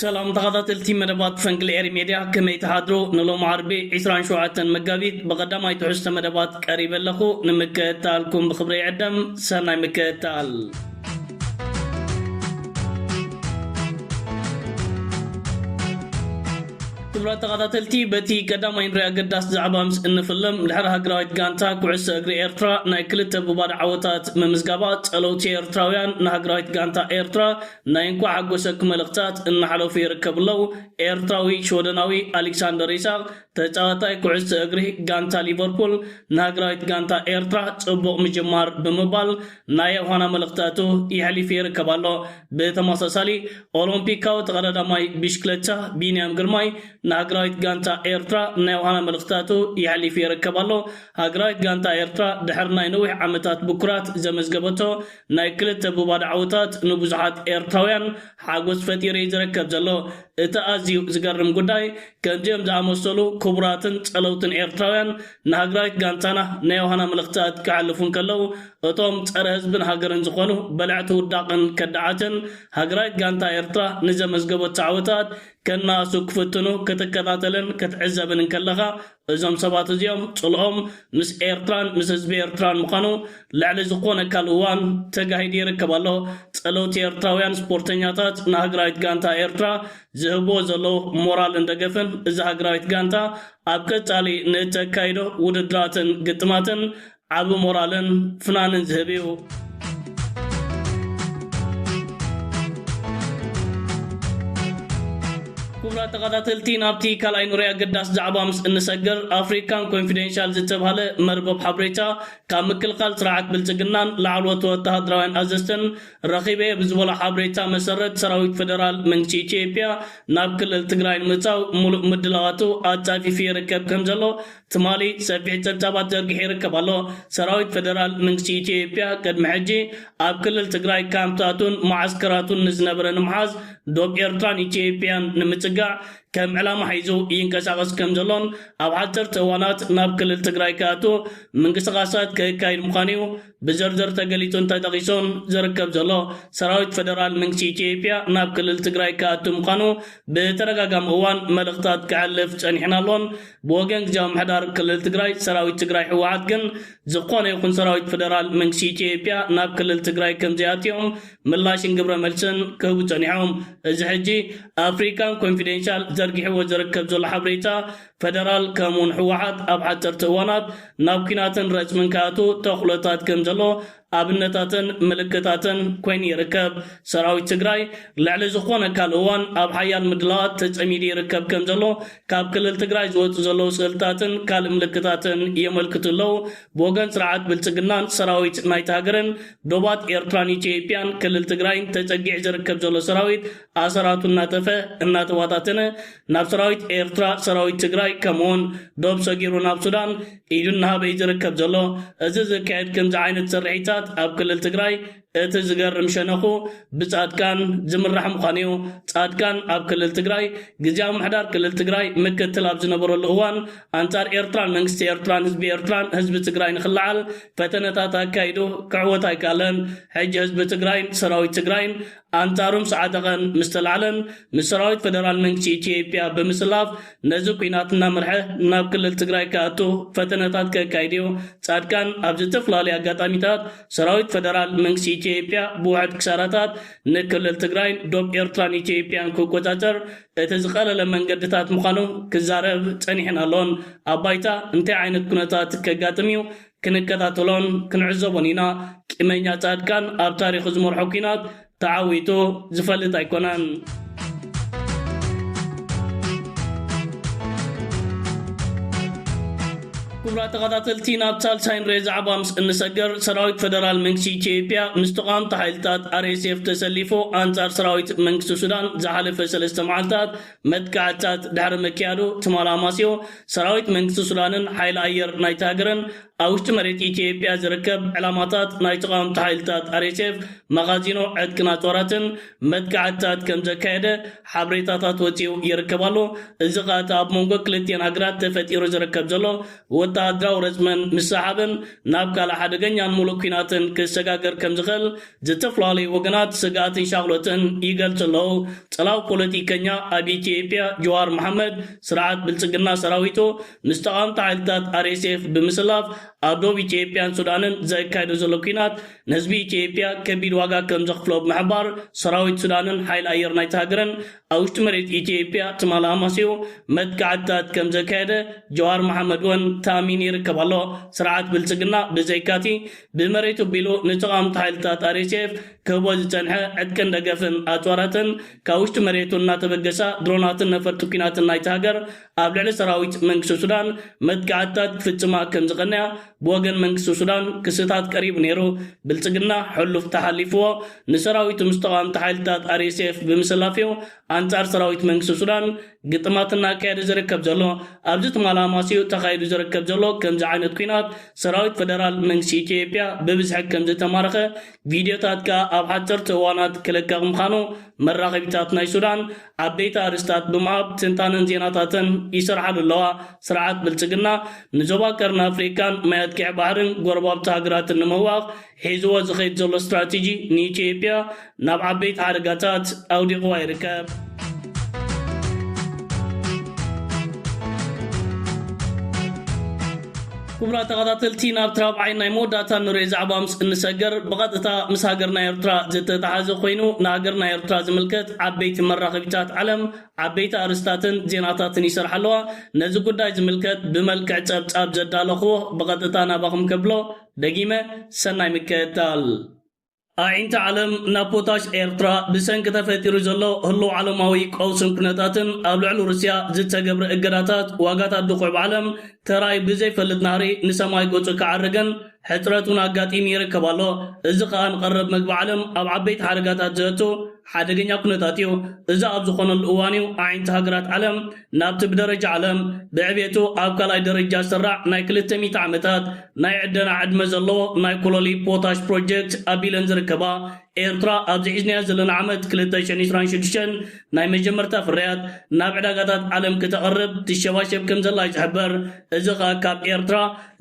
ሰላም ተኻታተልቲ መደባት ፈንቅል ኤሪ ሜድያ ከመይ ትሓድሩ ንሎም ዓርቢ 27 መጋቢት ብቐዳማይ ትሕዝቶ መደባት ቀሪበ ኣለኹ ንምክእታልኩም ብክብሪ ይዕደም ሰናይ ምክእታል ክቡራት ተኻታተልቲ በቲ ቀዳማይ ንሪ ኣገዳሲ ዛዕባ ምስ እንፍልም ድሕሪ ሃገራዊት ጋንታ ኩዕሶ እግሪ ኤርትራ ናይ ክልተ ብባዶ ዓወታት ምምዝጋባ ጸለውቲ ኤርትራውያን ንሃገራዊት ጋንታ ኤርትራ ናይ እንኳዕ ሓጎሰኩም መልእኽታት እናሕለፉ ይርከቡ ኣለው ኤርትራዊ ሽወደናዊ ኣሊክሳንደር ኢሳቕ ተጻዋታይ ኩዕሶ እግሪ ጋንታ ሊቨርፑል ንሃገራዊት ጋንታ ኤርትራ ጽቡቕ ምጅማር ብምባል ናይ የውሃና መልእኽቲ ኣቱ የሕሊፍ ይርከብ ኣሎ። ብተመሳሳሊ ኦሎምፒካዊ ተቐዳዳማይ ብሽክለታ ቢንያም ግርማይ ንሃገራዊት ጋንታ ኤርትራ ናይ የውሃና መልእኽቲ ኣቱ የሕሊፍ ይርከብ ኣሎ። ሃገራዊት ጋንታ ኤርትራ ድሕሪ ናይ ነዊሕ ዓመታት ብኩራት ዘመዝገበቶ ናይ ክልተ ብባዶ ዓወታት ንብዙሓት ኤርትራውያን ሓጎስ ፈጢሩ እዩ ዝረከብ ዘሎ። እቲ ኣዝዩ ዝገርም ጉዳይ ከምዚኦም ዝኣመሰሉ ክቡራትን ጸለውትን ኤርትራውያን ንሃግራዊት ጋንታና ናይ ዮሃና መልእኽትታት ክሓልፉ እንከለዉ፣ እቶም ጸረ ህዝብን ሃገርን ዝኾኑ በለዕቲ ውዳቕን ከዳዓትን፣ ሃግራዊት ጋንታ ኤርትራ ንዘመዝገበቶ ዓወታት ከናእሱ ክፍትኑ ክትከታተልን ክትዕዘብን እንከለኻ፣ እዞም ሰባት እዚኦም ጽልኦም ምስ ኤርትራን ምስ ህዝቢ ኤርትራን ምዃኑ ልዕሊ ዝኾነ ካልእ እዋን ተጋሂዱ ይርከብ ኣሎ። ጸለውቲ ኤርትራውያን ስፖርተኛታት ንሃግራዊት ጋንታ ኤርትራ ዝህብዎ ዘለዉ ሞራልን ደገፍን እዛ ሃግራዊት ጋንታ ኣብ ቀጻሊ ንእተካይዶ ውድድራትን ግጥማትን ዓቢ ሞራልን ፍናንን ዝህብ እዩ። ክቡራት ተኸታተልቲ ናብቲ ካልኣይ ኑረይ ኣገዳሲ ዛዕባ ምስ እንሰግር ኣፍሪካን ኮንፊደንሻል ዝተብሃለ መርበብ ሓብሬታ ካብ ምክልኻል ስርዓት ብልፅግናን ላዕለዎት ወተሃደራውያን ኣዘዝትን ረኺበ'የ ብዝበሎ ሓበሬታ መሰረት፣ ሰራዊት ፈደራል መንግስቲ ኢትዮጵያ ናብ ክልል ትግራይ ንምእታው ሙሉእ ምድላዋቱ ኣጻፊፉ ይርከብ ከምዘሎ ትማሊ ሰፊሕ ጸብጻባት ዘርጊሑ ይርከብ ኣሎ። ሰራዊት ፈደራል መንግስቲ ኢትዮጵያ ቅድሚ ሕጂ ኣብ ክልል ትግራይ ካምፕታቱን መዓስከራቱን ንዝነበረ ንምሓዝ ዶብ ኤርትራን ኢትዮጵያን ንምጽጋዕ ከም ዕላማ ሒዙ ይንቀሳቐስ ከምዘሎን ኣብ ሓጸርቲ እዋናት ናብ ክልል ትግራይ ክኣቱ ምንቅስቓሳት ከካይድ ምዃኑ'ዩ ብዝርዝር ተገሊፁ እንተጠቂሱ ዝርከብ ዘሎ ሰራዊት ፈደራል መንግስቲ ኢትዮጵያ ናብ ክልል ትግራይ ክኣቱ ምዃኑ ብተደጋጋሚ እዋን መልእኽታት ከሕልፍ ፀኒሑን ኣሎን። ብወገን ግዝያዊ ምምሕዳር ክልል ትግራይ ሰራዊት ትግራይ ህወሓት ግን ዝኾነ ይኹን ሰራዊት ፈደራል መንግስቲ ኢትዮጵያ ናብ ክልል ትግራይ ከምዘይኣትዮም ምላሽን ግብረመልስን ክህቡ ፀኒሖም። እዚ ሕጂ ኣፍሪካን ኮንፊደንሻል ዘርጊሕዎ ዝርከብ ዘሎ ሓበሬታ ፈደራል ከምኡ ውን ህወሓት ኣብ ሓፀርቲ እዋናት ናብ ኩናትን ረፅምን ክኣትው ተኽሎታት ከም ዘሎ ኣብነታትን ምልክታትን ኮይኑ ይርከብ። ሰራዊት ትግራይ ልዕሊ ዝኾነ ካልእ እዋን ኣብ ሓያል ምድላዋት ተፀሚዱ ይርከብ ከም ዘሎ ካብ ክልል ትግራይ ዝወፁ ዘለው ስእልታትን ካልእ ምልክታትን የመልክቱ ኣለው። ብወገን ስርዓት ብልፅግናን ሰራዊት ናይታ ሃገርን ዶባት ኤርትራን ኢትዮጵያን ክልል ትግራይን ተፀጊዑ ዝርከብ ዘሎ ሰራዊት ኣሰራቱ እናጠፈ እናተባታተነ ናብ ሰራዊት ኤርትራ፣ ሰራዊት ትግራይ ከምኡውን ዶብ ሰጊሩ ናብ ሱዳን ኢዱ እናሃበ እዩ ዝርከብ ዘሎ። እዚ ዝካየድ ከምዚ ዓይነት ስርሒታት ኣብ ክልል ትግራይ እቲ ዝገርም ሸነኹ ብጻድቃን ዝምራሕ ምዃኑ እዩ። ጻድቃን ኣብ ክልል ትግራይ ግዝያዊ ምሕዳር ክልል ትግራይ ምክትል ኣብ ዝነበረሉ እዋን ኣንጻር ኤርትራን መንግስቲ ኤርትራን ህዝቢ ኤርትራን ህዝቢ ትግራይ ንክለዓል ፈተነታት ኣካይዱ ክዕወት ኣይከኣለን። ሕጂ ህዝቢ ትግራይን ሰራዊት ትግራይን ኣንጻሮም ሰዓጠቐን ምስ ተላዕለን ንሰራዊት ፈደራል መንግስቲ ኢትዮጵያ ብምስላፍ ነዚ ኲናት እናመርሐ ናብ ክልል ትግራይ ክኣቱ ፈተነታት ከካይድዮ። ጻድቃን ኣብ ዝተፈላለዩ ኣጋጣሚታት ሰራዊት ፈደራል መንግስቲ ኢትዮጵያ ብውሑድ ክሳራታት ንክልል ትግራይን ዶብ ኤርትራን ኢትዮጵያን ክቆጻጸር እቲ ዝቐለለ መንገድታት ምዃኑ ክዛረብ ጸኒሕን ኣሎን። ኣብ ባይታ እንታይ ዓይነት ኩነታት ከጋጥም እዩ ክንከታተሎን ክንዕዘቦን ኢና ቂመኛ ጻድቃን ኣብ ታሪኹ ዝመርሖ ኩናት ተዓዊቱ ዝፈልጥ ኣይኮነን። ክቡራት ተኸታተልቲ ናብ ሳልሳይ ንሬ ዛዕባ ምስ እንሰገር ሰራዊት ፈደራል መንግስቲ ኢትዮጵያ ምስ ተቓወምቲ ሓይልታት RSF ተሰሊፉ ኣንጻር ሰራዊት መንግስቲ ሱዳን ዝሓለፈ ሰለስተ መዓልታት መጥቃዕትታት ድሕሪ ምክያዱ ትማል ኣማስዮ ሰራዊት መንግስቲ ሱዳንን ሓይሊ ኣየር ናይታ ሃገርን ኣብ ውሽጢ መሬት ኢትዮጵያ ዝርከብ ዕላማታት ናይ ተቓወምቲ ሓይልታት RSF፣ መኻዚኖ ዕጥቅን ኣጽዋራትን መጥቃዕትታት ከምዘካየደ ሓበሬታታት ወጺኡ ይርከብ ኣሎ። እዚ ከኣ እቲ ኣብ መንጎ ክልቲኤን ሃገራት ተፈጢሩ ዝርከብ ዘሎ ወተሃደራዊ ረጽምን ምስሕሓብን ናብ ካልእ ሓደገኛን ምሉእ ኲናትን ክሰጋገር ከምዝኽእል ዝተፈላለዩ ወገናት ስግኣትን ሻቕሎትን ይገልጹ ኣለዉ። ጽላው ፖለቲከኛ ኣብ ኢትዮጵያ ጅዋር መሓመድ፣ ስርዓት ብልጽግና ሰራዊቱ ምስ ተቓወምቲ ሓይልታት RSF ብምስላፍ ኣብ ዶብ ኢትዮጵያን ሱዳንን ዘካይዶ ዘሎ ኲናት ንህዝቢ ኢትዮጵያ ከቢድ ዋጋ ከምዘኽፍሎ ብምሕባር፣ ሰራዊት ሱዳንን ሓይሊ ኣየር ናይታ ሃገርን ኣብ ውሽጢ መሬት ኢትዮጵያ ትማል ኣማስዩ መጥቃዕትታት ከም ዘካየደ ጀዋር መሓመድ እውን ተኣሚኑ ይርከብ ኣሎ። ስርዓት ብልጽግና ብዘይካ'ቲ ብመሬቱ ኣቢሉ ንተቓወምቲ ሓይልታት RSF ክህቦ ዝጸንሐ ዕጥቅን ደገፍን ኣጽዋራትን ካብ ውሽጢ መሬቱ እናተበገሳ ድሮናትን ነፈርቲ ኲናትን ናይታ ሃገር ኣብ ልዕሊ ሰራዊት መንግስቲ ሱዳን መጥቃዕትታት ክፍጽማ ከም ዝቐነያ ብወገን መንግስቲ ሱዳን ክስታት ቀሪቡ ነይሩ። ብልጽግና ሕሉፍ ተሓሊፍዎ ንሰራዊቱ ምስ ተቓወምቲ ሓይልታት RSF ብምስላፍዮ ኣንጻር ሰራዊት መንግስቲ ሱዳን ግጥማት እናካየደ ዝርከብ ዘሎ። ኣብዚ ትማል ኣማስዩ ተኻይዱ ዝርከብ ዘሎ ከምዚ ዓይነት ኲናት ሰራዊት ፈደራል መንግስቲ ኢትዮጵያ ብብዝሒ ከም ዝተማረኸ ቪድዮታትካ ኣብ ሓጸርቲ እዋናት ክልቀቕ ምኻኑ መራኸቢታት ናይ ሱዳን ዓበይቲ ኣርእስታት ብምሃብ ትንታነን ዜናታተን ይሰርሓሉ ኣለዋ። ስርዓት ብልጽግና ንዞባ ቀርኒ ኣፍሪቃን ማያት ቂዕ ባሕርን ጎረባብቲ ሃገራትን ንምህዋኽ ሒዝዎ ዝኸይድ ዘሎ ስትራቴጂ ንኢትዮጵያ ናብ ዓበይቲ ሓደጋታት ኣውዲቕዋ ይርከብ። ክቡራት ተኸታተልቲ ናብቲ ራብዓይ ናይ መወዳእታ እንሪኦ ዛዕባ ምስ እንሰገር ብቐጥታ ምስ ሃገርና ኤርትራ ዝተተሓዘ ኮይኑ ንሃገርና ኤርትራ ዝምልከት ዓበይቲ መራኸቢታት ዓለም ዓበይቲ ኣርእስታትን ዜናታትን ይሰርሓ ኣለዋ ነዚ ጉዳይ ዝምልከት ብመልክዕ ጸብጻብ ዘዳለኹዎ ብቐጥታ ናባኹም ከብሎ ደጊመ ሰናይ ምክትታል። ኣዒንቲ ዓለም ናብ ፖታሽ ኤርትራ ብሰንኪ ተፈጢሩ ዘሎ ህሉው ዓለማዊ ቀውስን ኩነታትን ኣብ ልዕሊ ሩስያ ዝተገብረ እገዳታት ዋጋታት ድኹዒ ብዓለም ተራእዩ ብዘይፈልጥ ናህሪ ንሰማይ ገጹ ክዓርግን ሕጽረት እውን ኣጋጢሙ ይርከብ ኣሎ። እዚ ከኣ ንቀረብ መግቢ ዓለም ኣብ ዓበይቲ ሓደጋታት ዘእቱ ሓደገኛ ኩነታት እዩ። እዚ ኣብ ዝኾነሉ እዋን እዩ ኣዒንቲ ሃገራት ዓለም ናብቲ ብደረጃ ዓለም ብዕቤቱ ኣብ ካልኣይ ደረጃ ዝስራዕ ናይ ክልተ ሚእቲ ዓመታት ናይ ዕደና ዕድመ ዘለዎ ናይ ኮሎሊ ፖታሽ ፕሮጀክት ኣቢለን ዝርከባ ኤርትራ ኣብዚ ሒዝናዮ ዘለና ዓመት ክልተ ሽሕን ዕስራን ሽዱሽተን ናይ መጀመርታ ፍርያት ናብ ዕዳጋታት ዓለም ክተቕርብ ትሸባሸብ ከምዘላ እዩ ዝሕበር። እዚ ከኣ ካብ ኤርትራ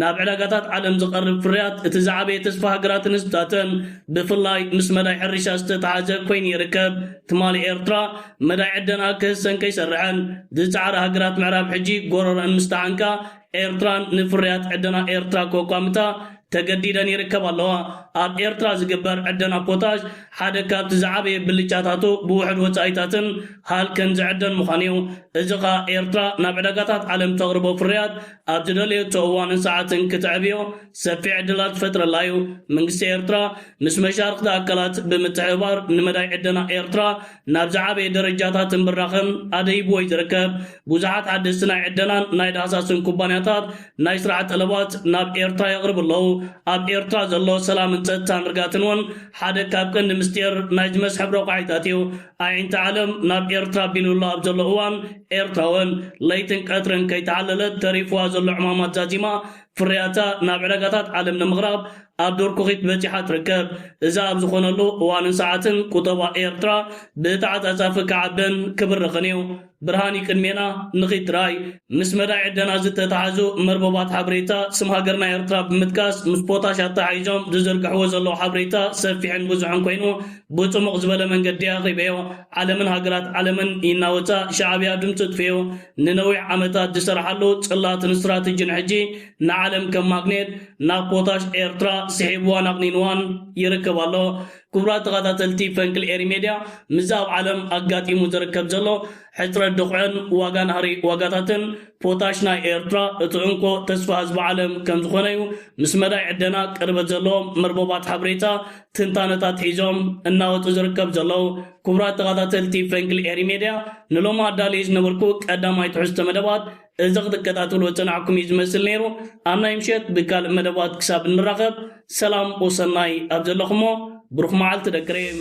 ናብ ዕዳጋታት ዓለም ዝቐርብ ፍርያት እቲ ዝዓበየ ተስፋ ሃገራትን ህዝብታተን ብፍላይ ምስ መዳይ ሕርሻ ዝተተሓሓዘ ኮይኑ ይርከብ። ትማሊ ኤርትራ መዳይ ዕደና ክህሰን ከይሰርሐን ዝጸዓራ ሃገራት ምዕራብ ሕጂ ጎሮረኣን ምስ ተዓንቃ ኤርትራን ንፍርያት ዕደና ኤርትራ ከቋምታ ተገዲደን ይርከባ ኣለዋ። ኣብ ኤርትራ ዝግበር ዕደና ፖታሽ ሓደ ካብቲ ዝዓበየ ብልጫታቱ ብውሑድ ወጻኢታትን ሃልክን ዝዕደን ምዃኑ'ዩ። እዚ ከኣ ኤርትራ ናብ ዕዳጋታት ዓለም ተቕርቦ ፍርያት ኣብ ዝደለየቶ እዋንን ሰዓትን ክተዕብዮ ሰፊሕ ዕድላት ዝፈጥረላ'ዩ። መንግስቲ ኤርትራ ምስ መሻርኽቲ ኣካላት ብምትሕብባር ንመዳይ ዕደና ኤርትራ ናብ ዝዓበየ ደረጃታትን ብራኸን ኣደይብዎ እዩ ዝርከብ። ብዙሓት ሓደስቲ ናይ ዕደናን ናይ ዳህሳስን ኩባንያታት ናይ ስራሕ ጠለባት ናብ ኤርትራ የቕርቡ ኣለዉ። ኣብ ኤርትራ ዘሎ ሰላምን ጸጥታን ርጋትን እውን ሓደ ካብ ቀንዲ ምስጢር ናይዚ መስሕብ ረቋሒታት እዩ። ኣዒንቲ ዓለም ናብ ኤርትራ ኣቢሉላ ኣብ ዘሎ እዋን ኤርትራውን ለይትን ቀትርን ከይተዓለለት ተሪፉዋ ዘሎ ዕማማት ዛዚማ ፍርያታ ናብ ዕዳጋታት ዓለም ንምቕራብ ኣብ ዶርኩኺት በጺሓ ትርከብ። እዚ ኣብ ዝኾነሉ እዋንን ሰዓትን ቁጠባ ኤርትራ ብተዓጻጻፊ ክዓብን ክብርኽን እዩ። ብርሃን እዩ ቅድሜና፣ ንኺድ ጥራይ። ምስ መዳይ ዕደና ዝተታሓዙ መርበባት ሓበሬታ ስም ሃገርና ኤርትራ ብምጥቃስ ምስ ፖታሽ ኣተሓሒዞም ዝዝርግሕዎ ዘለዉ ሓበሬታ ሰፊሕን ብዙሕን ኮይኑ ብጽሙቕ ዝበለ መንገዲ ኣቕሪበዮ። ዓለምን ሃገራት ዓለምን ኢናወጻ ሻዕብያ ድምጹ ኣጥፊኦ ንነዊሕ ዓመታት ዝሰርሓሉ ጽላትን ስትራትጅን ሕጂ ንዓለም ከም ማግኔት ናብ ፖታሽ ኤርትራ ስሒብዋን ኣቅኒንዋን ይርከብ ኣሎ ኩቡራት ተኻታተልቲ ፈንቅል ኤሪ ሜድያ ምዚ ኣብ ዓለም ኣጋጢሙ ዝርከብ ዘሎ ሕጽረት ድኹዕን ዋጋ ናህሪ ዋጋታትን ፖታሽ ናይ ኤርትራ እቲ እንኮ ተስፋ ህዝቢ ዓለም ከም ዝኾነዩ ምስ መዳይ ዕደና ቅርበት ዘለዎም መርበባት ሓብሬታ ትንታነታት ሒዞም እናወጹ ዝርከብ ዘለዉ ኩቡራት ተኻታተልቲ ፈንቅል ኤሪ ሜድያ ንሎሚ ኣዳልየ ዝነበርኩ ቀዳማይ ትሕዝቶ መደባት እዚ ክትከታተልዎ ዝጸናሕኩም እዩ ዝመስል ነይሩ ኣብ ናይ ምሸት ብካልእ መደባት ክሳብ እንራኸብ ሰላም ወሰናይ ኣብ ዘለኹሞ ብሩኽ መዓልቲ ደቂ ሬም